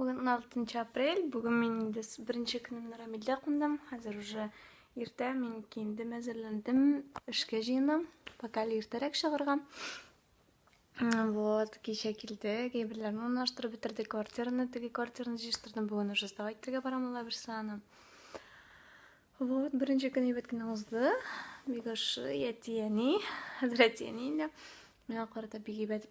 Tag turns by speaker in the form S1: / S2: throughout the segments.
S1: Бүген 16 апрель, бүген мин инде беренче көнемне Рамилдә кундым. Хәзер уже иртә, мин киендем, әзерләндем, эшкә җыенам. Пока әле иртәрәк чыгарга. Вот, кичә килдек, әйберләрне урнаштырып бетердек, квартираны, теге квартираны җыештырдым. Бүген уже сдавать итәргә барам ул Аберсаны. Вот, беренче көн әйбәт кенә узды. Бик яши әти-әни, хәзер әти-әни инде. Миңа карата бик әйбәт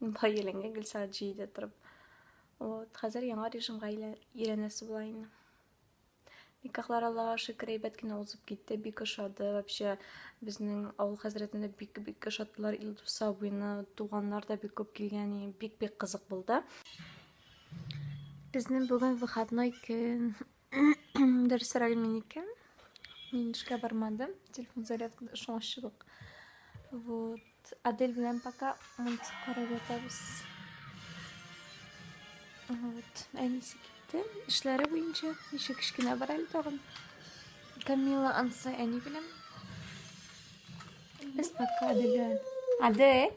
S1: Монда еләнгә гел сәгать җиде торып. Вот, хәзер яңа режимга өйрәнәсе була инде. Никахлар Аллаһ шөкер әйбәт кенә узып китте, бик ошады. Вообще безнең авыл хәзрәтендә бик бик ошаттылар. Илдус абыйны туганнар да бик күп килгән, бик бик кызык булды. Безнең бүген выходной көн. Дөресрәге минеке. Мин эшкә бармадым. Телефон зарядкада шуңачылык. Вот. Адель белән пока мультик карап ятабыз. Вот. Әнисе китте. Эшләре буенча ничек кечкенә бар әле тагын. Камила ансы әни белән. Без пока Адель белән. Адель!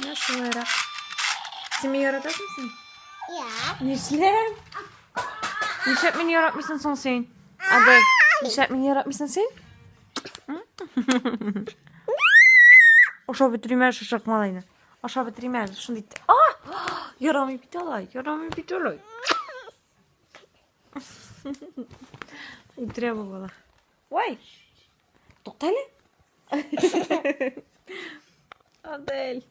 S1: Менә шулайрак. Син мине яратасың син? Я. Нишләп? Нишләп мине яратмыйсың соң син? Адай, нишләп мине яратмыйсың син? Ашап бетерим әле шул чакмалайны. Ашап бетерим әле шундый. ит- А! Ярамый бит алай, ярамый бит алай. Үтерә бу бала. Вай! Туктале. Адель.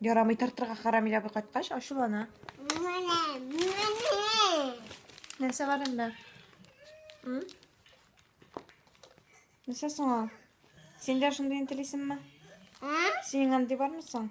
S1: Ярамый тартырга харам иләбе кайткач ачулана. Нәрсә бар инде? Нәрсә соң ул? Син дә шундый интелисеңме? Синең андый бармы соң?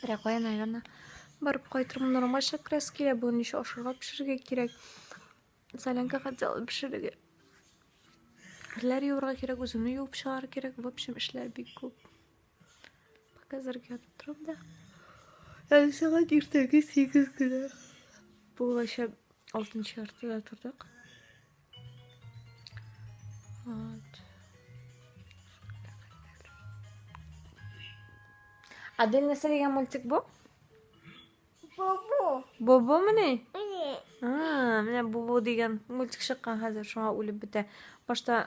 S1: Бирә куя, наверное. Барып кайтырмын. Нормаль шәкрас килә. Бүген еще ашырга пешерергә кирәк. Солянка хотела пешерергә. Керләр юырга кирәк, үземне юып чыгарга кирәк. В общем, эшләр бик күп. Пока зәргә ятып торам да. Әле сәгать иртәге 8 генә. Булача 6 яртыда тордык. От. А дин нәрсә дигән мультик бу? Бобо. Бобо мени? Мени. А, менә Бобо дигән мультик чыккан хәзер, шуңа үлеп бетә. Башта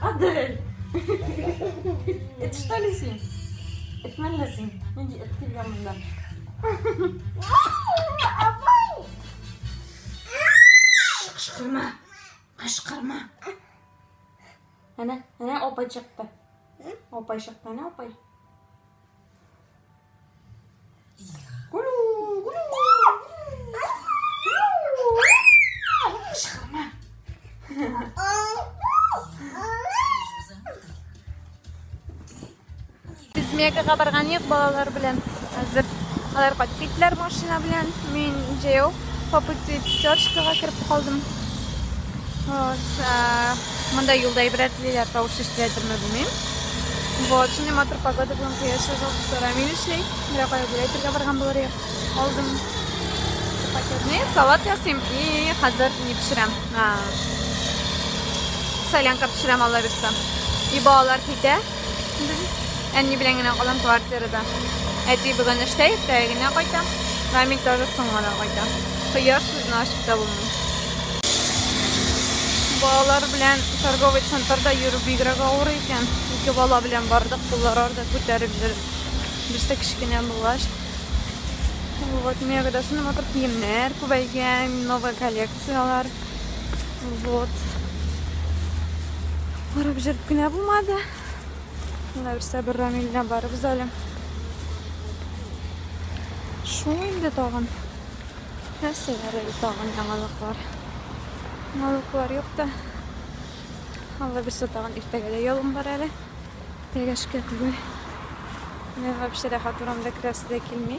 S1: Адель! Эт что ли син? Эт мәллә син? Нинди эт килгән монда? Кышкырма! Кышкырма! Әнә, әнә апай чыкты. Апай чыкты, әнә апай. Мекага барган юк балалар белән. Хәзер алар кайтып киттеләр машина белән. Мин җәяү по пути пятерочкага кереп калдым. Вот. Монда юлда ибрәт диләр, тавыш ишетеләдерме белмим. Вот, шундый матур погода белән кояш чыгып, сорами эшли. Менә кая гүләй бергә барган булыр идек. Алдым. Пакетный салат ясыйм и хәзер не пешерәм. Солянка пешерәм, алла бирсә. И балалар китә. Әни белән генә калам квартирада. Әти бүген эштә иртә генә кайта. Рамил тоже соң гына кайта. Хыяр сүзне ачып та булмый. Балалар белән торговый центрда йөрү бигрәк авыр икән. Ике бала белән бардык, куллар арда күтәреп йөрдек. Берсе кечкенә булгач, вот мега дәсен матур киемнәр күбәйгән, новая коллекция. Сыялар. Вот. Барып җырып кенә булмады. Менә берсә бер Рамилгә барыбыз әле. Шул инде тагын. Нәрсәләр әле тагын яңалыклар. Яңалыклар юк та. Алла берсе тагын иртәгә дә ялым бар әле. Тәгәшкә түгел. Мен вообще рәхәт урамда керәсе дә килми.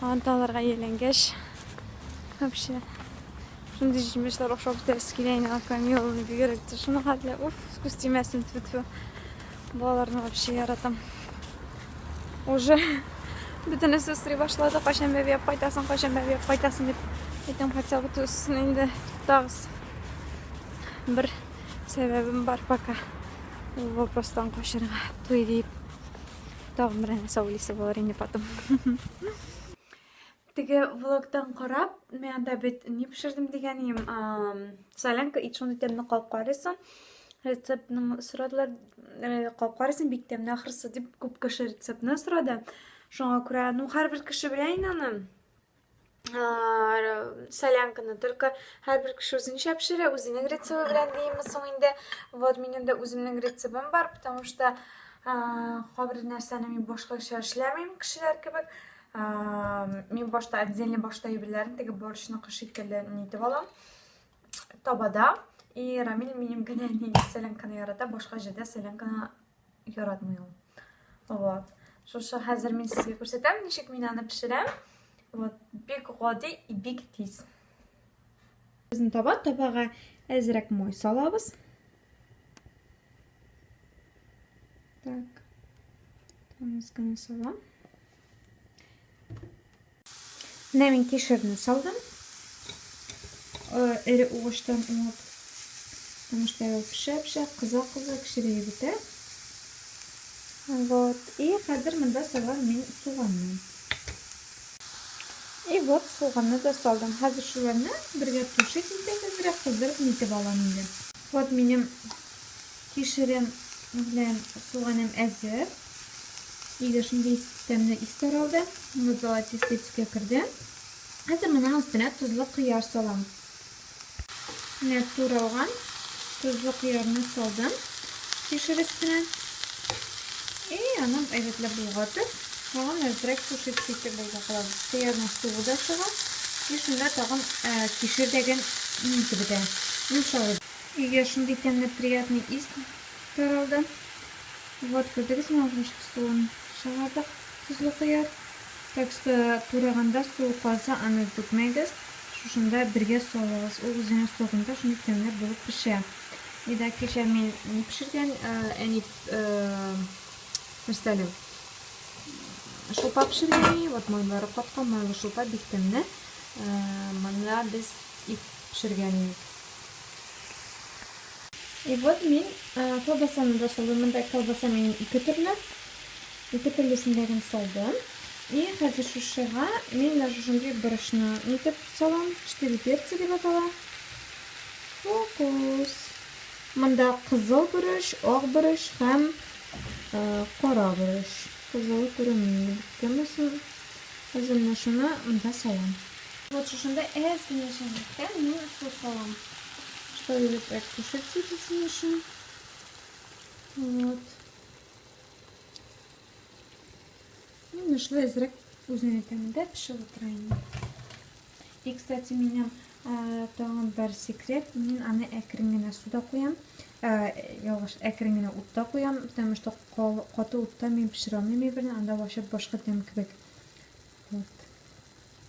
S1: Анталарга ияләнгәч, вообще шундый җимешләр ашап бетерәсе килә инде аквамелоны бигрәк тә шуны хәтле уф күз тимәсен тфу тфу балаларны вообще яратам уже бөтенесе срый башлады кайчан бәбиәп кайтасың кайчан бәбиәп кайтасың дип әйтәм хотя бы тусын инде туктагыз бер сәбәбем бар пока вопростан качырга туй дип Тагын бер нәрсә уйлыйсы булыр инде потом. Теге влогтан карап, мен анда бит ни пешердем дигәнем, солянка и шундый тәмле калып карыйсың. Рецептны сорадылар, э, калып карыйсың бик тәмле ахрысы дип күп кеше рецептны сорады. Шуңа күрә, ну һәрбер кеше белә инде аны. солянканы только һәрбер кеше үзенчә пешерә үзенең рецебы белән димме соң инде вот минем дә үземнең рецебым бар потому что кайбер нәрсәне мин башкача эшләмим кешеләр кебек мин башта отдельно башта әйберләрен теге борщныкы шикелле нитеп алам табада и рамил минем генә солянканы ярата башка җирдә солянканы Яратмый ул. Вот. Шушы хәзер мин сезгә күрсәтәм, ничек мин аны пешерәм. Вот, бик гади и бик тиз. Безне таба, табага әзрәк мой салабыз. Так. Тамыз гына салам. Менә мин кешерне салдым. Эре угыштан уңып. Потому что я пешә-пешә, кыза-кыза кешере егетә. Вот. И хәзер монда салам мин суганны. И вот суганны да салдым. Хәзер шуларны бергә тушить итеп, әзрәк кыздырып нитеп алам инде. Вот минем кешерем белән суганым әзер. Иде шундый тәмле ис таралды. Моны золотистый төскә керде. Хәзер моның өстенә тозлы кыяр салам. Менә туралган тозлы кыярны салдым кишер өстенә. И аны әйбәтләп болгатып, тагын әзрәк тушить итеп болгатабыз. Кыярның суы да чыга. И шунда тагын кишер дәген инде бетә. Йомшалып. Өйгә шундый тәмле приятный ис таралды. Вот күрдегезме аның ничек суын чыгардык, тозлы кыяр. Так что тураганда суы калса аны түкмәгез, шушында бергә салыгыз, ул үзенең согында шундый тәмләп булып пешә. И да кичә мин ни пешергән, әни нәрсә әле? Шулпа пешергән әни, вот майлары каткан, майлы шулпа бик тәмле. Монда без ит пешергән идек. И вот мин колбасаны да салдым. Монда колбаса минем ике төрле. Ике төрлесен дә генә салдым. И хәзер шушыга мин менә шушындый борычны нитеп салам. Четыре перца дип атала. Фокус. Монда кызыл борыч, ак борыч һәм кара борыч. Кызылы күренми. Кемесен? Хәзер менә шуны монда салам. Вот шушында әз генә чәйнәктә мин су салам. Шөйлек әктүшек ситесен өчен. Вот. Ну, нашла изрек үзенең тәмендә пешеп утыра инде. И, кстати, минем э, тагын бер секрет. Мин аны әкрен генә суда куям. Э, ялгыш, әкрен генә утта куям, потому что каты утта мин пешерә алмыйм әйберне, анда вачып башка тәм кебек. Вот.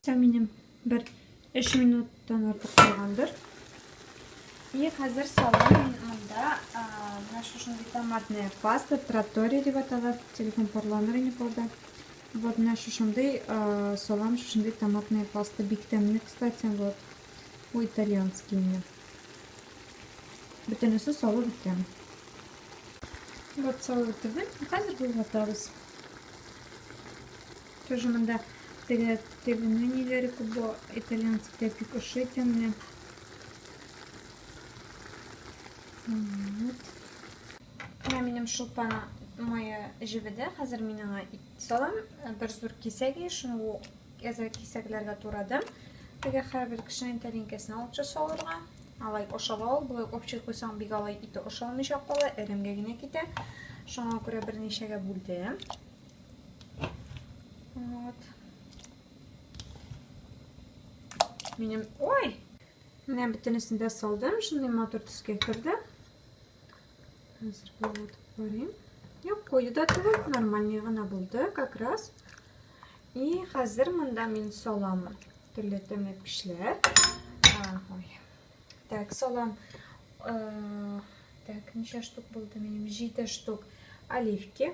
S1: Минем бер 3 минуттан артык булгандыр. И хәзер салам мин монда менә шушындый томатная паста, тратория дип атала, телефон парланыр ине полда. Вот менә шушындый салам, шушындый томатная паста бик тәмле, кстати, вот. У итальянский инде. Бөтенесе салып беткән. Вот салып бетердем. Хәзер бу ватабыз. Тоже монда теге тегене ниләре күп бу итальянцы тә бик ошыйт әмма. Вот. Менә минем шулпана мое җебедә. Хәзер мин аңа ит салам. Бер зур кисәге, шуны әзер кисәкләргә турадым. Теге һәрбер кешенең тәлинкәсен алып часалырга. Алай ошап ал, болай общий куйсаң бик алай ите ошалмыйча кала, эремгә генә китә. Шуңа күрә берничәгә бүлдем. Вот. Минем... Ой! Менә бөтенесен дә салдым. Шундый матур төскә керде. Хәзер булып барыйм. Юк, куе да түгел, нормальный гына булды, как раз. И хәзер монда мин салам төрле тәмле пешләр. Ой. Так, салам. Э, так, ничә штук булды минем? 7 штук оливки.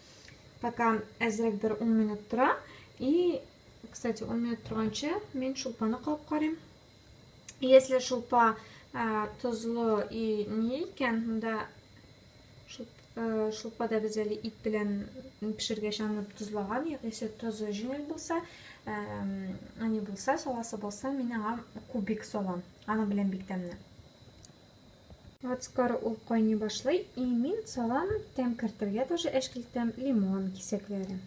S1: Пока әзрәк бер 10 минут тора. И, кстати, 10 минут торганчы мин шулпаны кабып карыйм. Если шулпа ә, тозлы и не икән, монда шулпада без әле ит белән пешергәч аны тозлаган, ягънисе тозы җиңел булса, әни булса, саласы булса, мин аңа кубик салам. Аны белән бик тәмле. Ацкар ул кайный башлый и мин салам тәм кертергә тоже әшкелтәм лимон кисәкләре.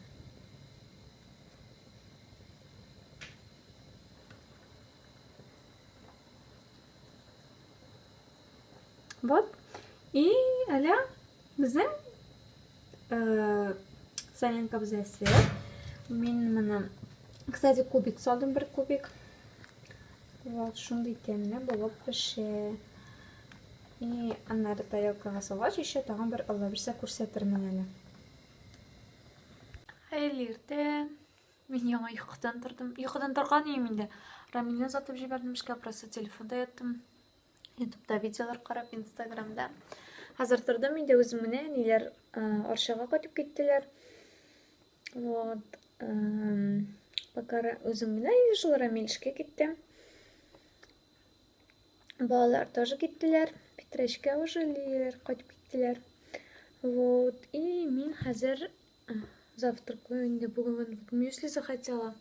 S1: Вот. И әле безнең э, соленка бездә свет. Мин моны, кстати, кубик салдым, бер кубик. Вот, шундый тәмле булып пешә. И аннары тарелкага салгач, еще тагын бер алла бирсә күрсәтермен әле. Хәерле иртә. Мин яңа йокыдан тордым. Йокыдан торган идем инде. Рамилне озатып җибәрдем эшкә, просто телефонда яттым. ютубта видеолар карап инстаграмда хәзер тордым инде үзем менә әниләр арчага кайтып киттеләр вот пока үзем генә ешыл рамил эшкә китте балалар тоже киттеләр питрәчкә уже лиләр кайтып киттеләр вот и мин хәзер завтракаю инде бүген мюсли захотела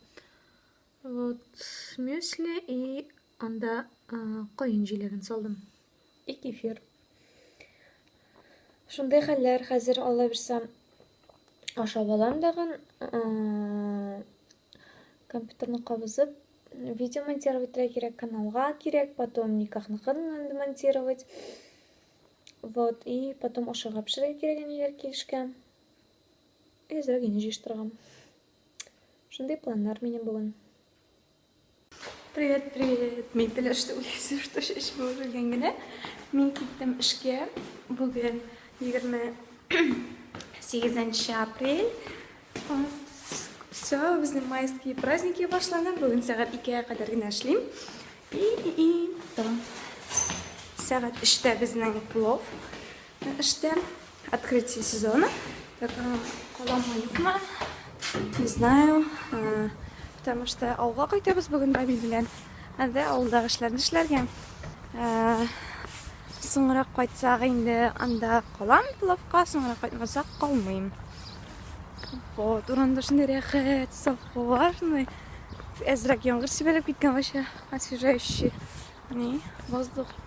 S1: вот мюсли и Анда каен җиләген салдым. И кефир. Шундый хәлләр хәзер алла бирсә ашап алам дагын. Компьютерны кабызып видео монтировать кирәк, каналга кирәк, потом никахныкын инде монтировать. Вот, и потом ашарга пешерергә кирәк әниләр килешкә. Әзрәк инде җыештырган. Шундый планнар минем бүген. Привет, привет. Мин теләште үләсе, что шешеп үрелгән генә. Мин киттем эшкә. Бүген 28 апрель. Все, безнең майские праздники башлана. Бүген сәгать 2-гә кадәр генә эшлим. И и и. Сәгать 3-тә безнең плов. Эштә открытие сезона. Так, каламы юкмы? Не знаю. Потому что авылга кайтабыз бүген Равил белән. Әдә авылдагы эшләрне эшләргә. Соңрак кайтсак инде анда калам плавка, соңрак кайтмасак калмыйм. Вот, урында шундый рәхәт, саф һава, шундый әзрәк яңгыр сибәлеп киткән вообще освежающий. Ни, воздух.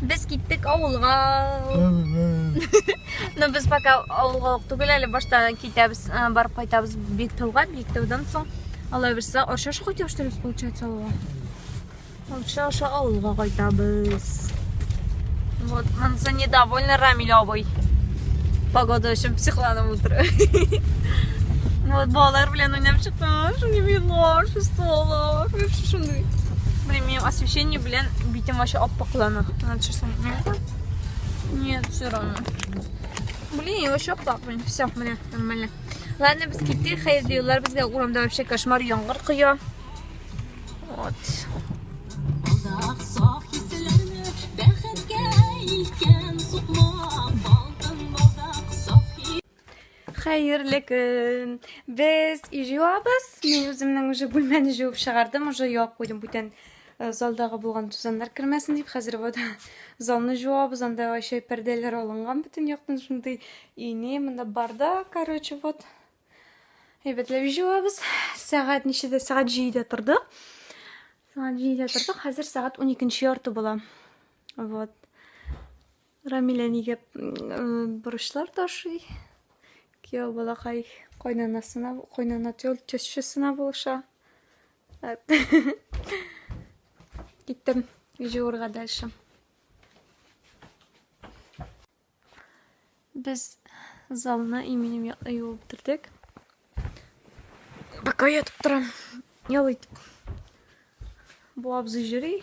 S1: Без киттек авылга. Но без пока авылга ук түгел әле башта китәбез, э, барып кайтабыз Биктауга, Биктаудан соң Алла бирса, Арча шук итеп штырыз получается авылга. Арча аша авылга кайтабыз. Вот, монысы недовольны Рамиль абый. Погода өчен психланып утыр. Вот, балалар белән уйнап чыктым. Шундый милар, шестолар. Вообще шундый. Блин, мне освещение Белән битем вообще аппаклана. Надо сейчас Нет, все равно. Блин, я вообще аппак, блин. Все, мне нормально. Ладно, без китти, хәерле юллар безгә. Урамда вообще кошмар яңгыр коя. Вот. Хәерле көн. Без үй җуабыз. Мин үземнең уже бүлмәне җуып чыгардым, уже юап куйдым бүтән э, залдагы булган тузаннар кермәсен дип. Хәзер вот залны җуабыз, анда вообще пәрдәләр алынган бөтен яктан шундый ине, монда барда, короче, вот. Әйбәтләп җуабыз. Сәгать ничәдә? Сәгать 7-дә тордык. Сәгать 7-дә тордык. Хәзер сәгать 12 ярты була. Вот. Рамилә нигә борычлар ташый? Кияү балакай кайнанасына, кайнана тещасына булыша. Киттем җуырга дальше. Без залны именем якны юып бетердек. Пока ятып торам. Ял итеп. Бу абзый җөри.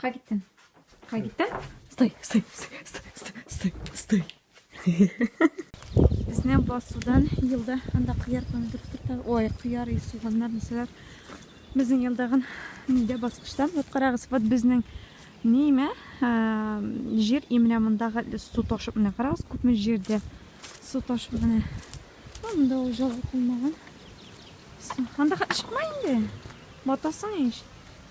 S1: Кай киттең? Кай киттең? Стой, стой, стой, стой, стой, стой. Безне басудан елда анда кыяр помидор тотта. Ой, кыяр и суганнар нәрсәләр. Безнең елдагын нидә баскычтан. Вот карагыз, вот безнең неме җир именно мондагы су ташып менә карагыз, күпме җирдә су ташып менә. Монда ул җылы кулмаган. Анда чыкма инде. Батасың ич.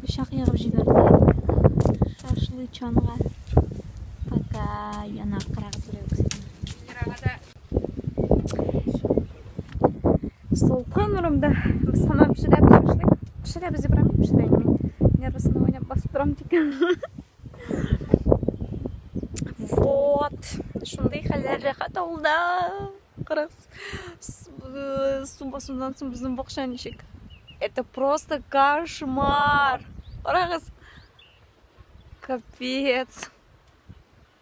S1: Пычак ягып җибәрде. Шашлы чанга. Пока яна кырагы берәү. Солкан урында сана пешерәбез шашлык. Пешерәбез дип рәм пешерәм. Нервысына уйнап басып торам дигән. Вот. Шундый хәлләр рәхәт авылда. Карагыз. Сумбасыннан соң безнең бакча ничек. Это просто кошмар. Карагыз. Капец.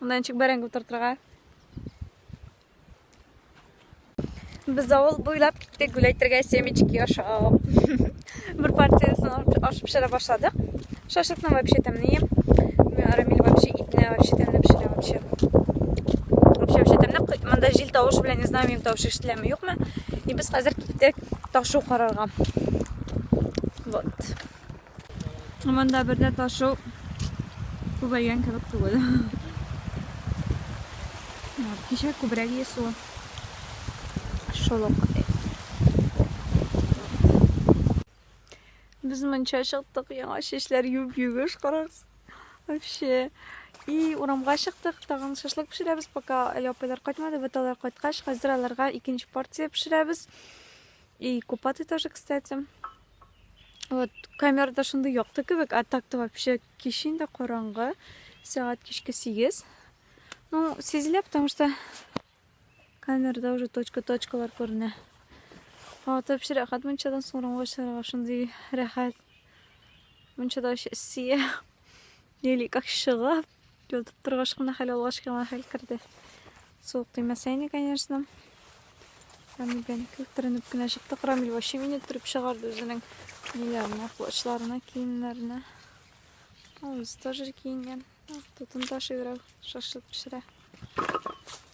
S1: Монда ничек бәрәңге утыртырга? Без авыл буйлап киттек гүләйтергә семечки ашап. Бер партиясен алып ашып пешерә башладык. Шашлыкны вообще тәмле ем. Рамиль вообще итне вообще тәмле пешерә вообще. Вообще вообще тәмле. Монда җил тавышы белән не знаю, минем тавышы ишетеләме, юкмы? И без хәзер киттек ташу карарга. Вот. Монда бердә ташу күбәйгән кебек түгел. Кичә күбрәк есу. Шул ук. Без монча чыктык, яңа чәчләр юп-югыш карагыз. Вообще. И урамга чыктык, тагын шашлык пешерәбез, пока әле апайлар кайтмады, вот алар кайткач, хәзер аларга икенче порция пешерәбез. И купаты тоже, кстати. Вот, камерада шундый якты кебек, а так-то вообще кич инде караңгы, сәгать кичке 8. Ну, сизелә, потому что камерада уже точка-точкалар күренә. Вата вообще рәхәт мунчадан соңраңга чыгарга шундый рәхәт. Мунчада вообще сия. Или как шыгап, ятып торгач кына хәл алгач кына хәл керде. Суык тимәсә ине, конечно. Рамиль белән күктеренеп кенә чыктык. Рамиль вообще мине төреп чыгарды үзенең ниләренә, плачларына, киемнәренә. Ул үзе тоже киенгән. Тотын ташый берәү, шашлык пешерә.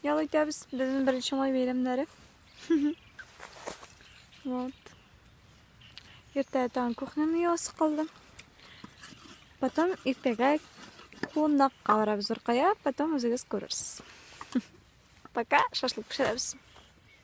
S1: Ял итәбез, безнең беренче май бәйрәмнәре. Вот. Иртә тагын кухняны ясы калдым. Потом иртәгә кунакка барабыз Уркая, потом үзегез күрерсез. Пока шашлык пешерәбез.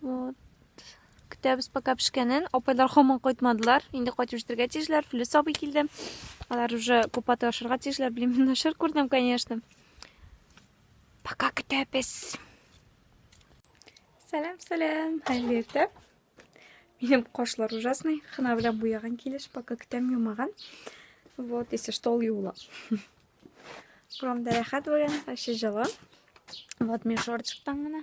S1: Вот. Көтәбез пока пешкәнен. Апайлар хаман кайтмадылар. Инде кайтып җитәргә тиешләр. Флюс абый килде. Алар уже купаты ашарга тиешләр. Белмим, мин ашар күрдем, конечно. Пока көтәбез. Сәлам, сәлам. Хәерле иртә. Минем кошлар ужасный. Хына белән буяган килеш, пока көтәм юмаган. Вот, если что, ул юла. Бурамда рәхәт бүген, вообще җылы. Вот, мин шортчыктан гына.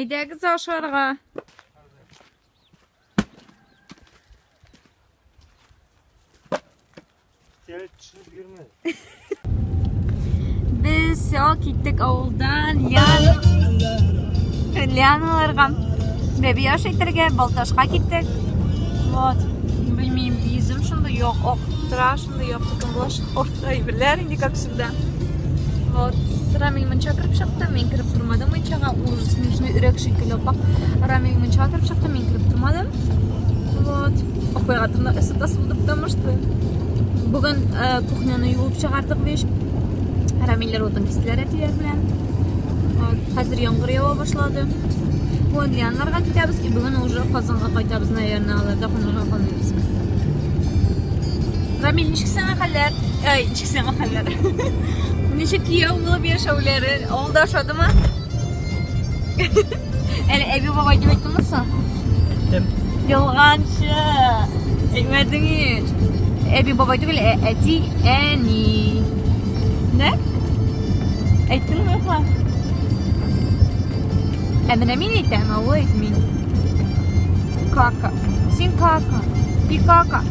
S1: Әйдәгез ашарга. Без сел киттек авылдан Лианаларга. Бәби аш итәргә Балташка киттек. Вот. Белмим, йөзем шунда юк, ак тора, шунда юк, тукым булачак. Әйберләр инде как всегда. Вот. Рамиль мунча кереп чыкты, мин кереп тормадым мунчага. Ул снежный өрәк шикелле апак. Рамиль мунчага кереп чыкты, мин кереп тормадым. Вот. Апайга тырна ысытасы булды, потому что бүген э, кухняны юып чыгардык биш. Рамилләр утын кистеләр әтиләр белән. Вот. Хәзер яңгыр ява башлады. Бүген яннарга китәбез и бүген уже Казанга кайтабыз, наверное, аларда кунарга калмыйбыз. Рамиль, ничек сиңа хәлләр? Ай, ничек сиңа хәлләр? Ничек кияү булып яшәүләре? Авылда ошадымы? Әле әби бабай дип әйттеңме соң? Әйттем. Ялганчы. Әйтмәдең ич. Әби бабай түгел, ә әти, әни. Нә? Әйттеңме юкмы? Ә менә мин әйтәм, ә ул әйтми. Кака. Син кака. И кака.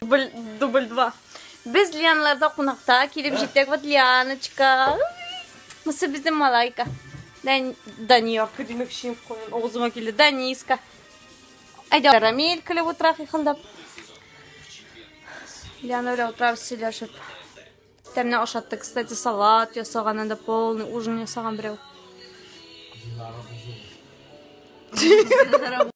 S1: Дубль, дубль два. Без Лианларда кунакта килеп җиттек. Вот Лианочка. Мысы безнең малайка. Дән, Даниярка димек шин куен. Огызыма килде. Даниска. Әйдә, Рамиль килеп утыра хихылдап. Лиана белән утырабыз сөйләшеп. Тәмне ашатты, кстати, салат ясаган, анда полный ужин ясаган берәү.